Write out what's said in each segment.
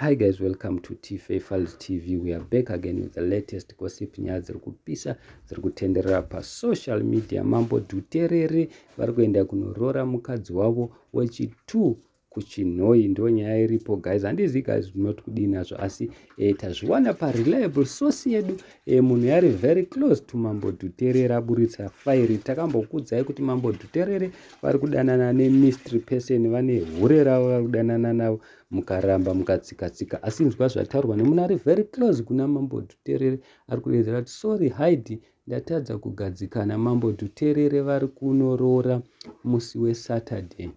Hi guys, welcome to Tife Files TV. We are back again with the latest gossip nyaya dziri kupisa dziri kutenderera pasocial media. Mambo Dhuterere vari kuenda kunoroora mukadzi wavo wechitu kuchinhoi ndo nyaya iripo guys handizivi guys not kudii nazvo asi e, tazviwana pareliable source yedu e, munhu yari very close to mambo dhuterere aburitsa fairi takambokudzai kuti mambo dhuterere vari kudanana nemistry person vane hure ravo vari kudanana navo mukaramba mukatsikatsika asi nzwa zvataurwa nemuna ari very close kuna mambo dhuterere ari kudedzera kuti sorry hide ndatadza kugadzikana mambo dhuterere vari kunoroora musi wesaturday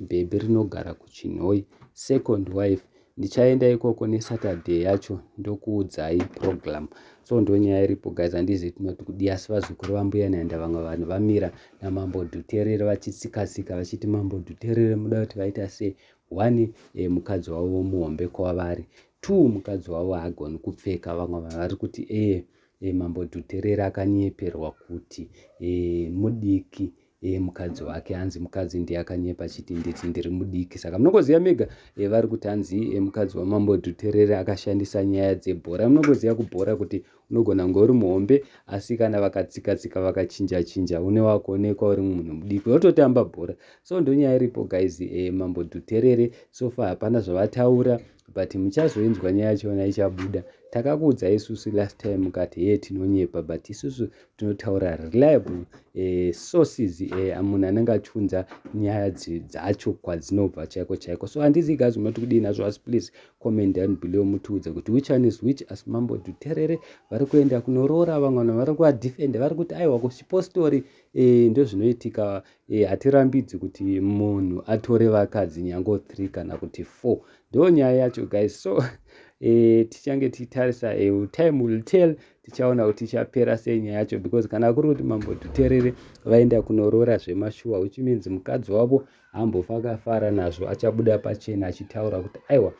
bhebhi rinogara kuchinhoi second wife ndichaenda ikoko nesaturday yacho ndokuudzai program so ndonyaya iripo guys handizi tinoti kudii asi vazukuru vambuya naenda vamwe vanhu vamira namambo dhuterere vachitsikatsika vachiti mambo dhuterere muda kuti vaita sei One, eh, mukadzi wavo muhombe kwavari. Two, mukadzi wavo haagoni kupfeka. Vamwe vanhu vari kuti eh, eh, mambo Dhuterera akanyeperwa kuti eh, mudiki eh, mukadzi wake hanzi mukadzi ndiye akanyepa achiti nditi ndiri mudiki saka munongoziva mega eh, vari kuti hanzi eh, mukadzi wamambo Dhuterera akashandisa nyaya dzebhora munongoziva kubhora kuti Unogona kunge uri muhombe asi kana vakatsika tsika vakachinja chinja une wako onekwa uri munhu mudiki wototamba bhora so ndonyaya iripo guys eh, mambo dhuterere sofa hapana zvavataura but muchazoinzwa nyaya yachona ichabuda takakuudzai isusu last time mukati hee tinonyepa but isusu tinotaura reliable eh, sources eh, munhu anenge achiunza nyaya dzacho kwadzinobva chaiko chaiko so handizivi gazi munoti kudii nazvo asi please comment and below mutiudze kuti which one is which asi mambo dhuterere vari kuenda kunoroora vamwe vanhu vari kuadefenda vari kuti aiwa kuchipostori e, eh, ndozvinoitika e, eh, hatirambidzi kuti munhu atore vakadzi nyango 3 kana kuti 4 ndo nyaya yacho guys so e, tichange tichitarisa e, time will tell tichaona kuti ichapera sei nyaya yacho because kana kuri kuti mambo dhuterere vaenda kunoroora zvemashuwa which means mukadzi wavo hambofa akafara nazvo achabuda pachena achitaura kuti aiwa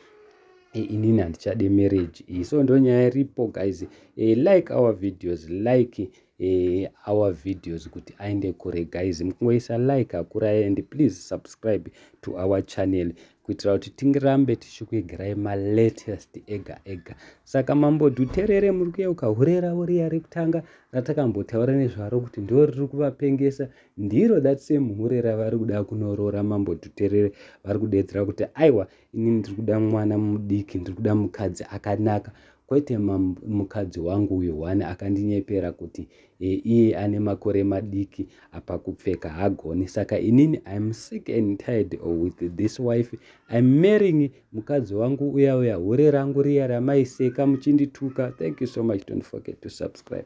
eh, inini handichade marriage iyi eh, so ndonyaya iripo guys eh, like our videos like eh, our videos kuti aende kure guys mukungoisa like akurai and please subscribe to our channel kuitira kuti tingirambe tichikuigirai malatest ega ega saka mambo dhuterere muri kuyeuka hure ravo riya rekutanga ratakambotaura nezvaro kuti ndo riri kuvapengesa ndiro that same hure ravari kuda kunoroora mambo tuterere vari kudeedzera kuti aiwa ini ndiri kuda mwana mudiki ndiri kuda mukadzi akanaka kwete mukadzi wangu uyo one akandinyepera kuti e, iye ane makore madiki apa kupfeka hagoni saka inini im sick and tired with this wife im marrying mukadzi wangu uya uya hure rangu riya ramaiseka muchindituka thank you so much don't forget to subscribe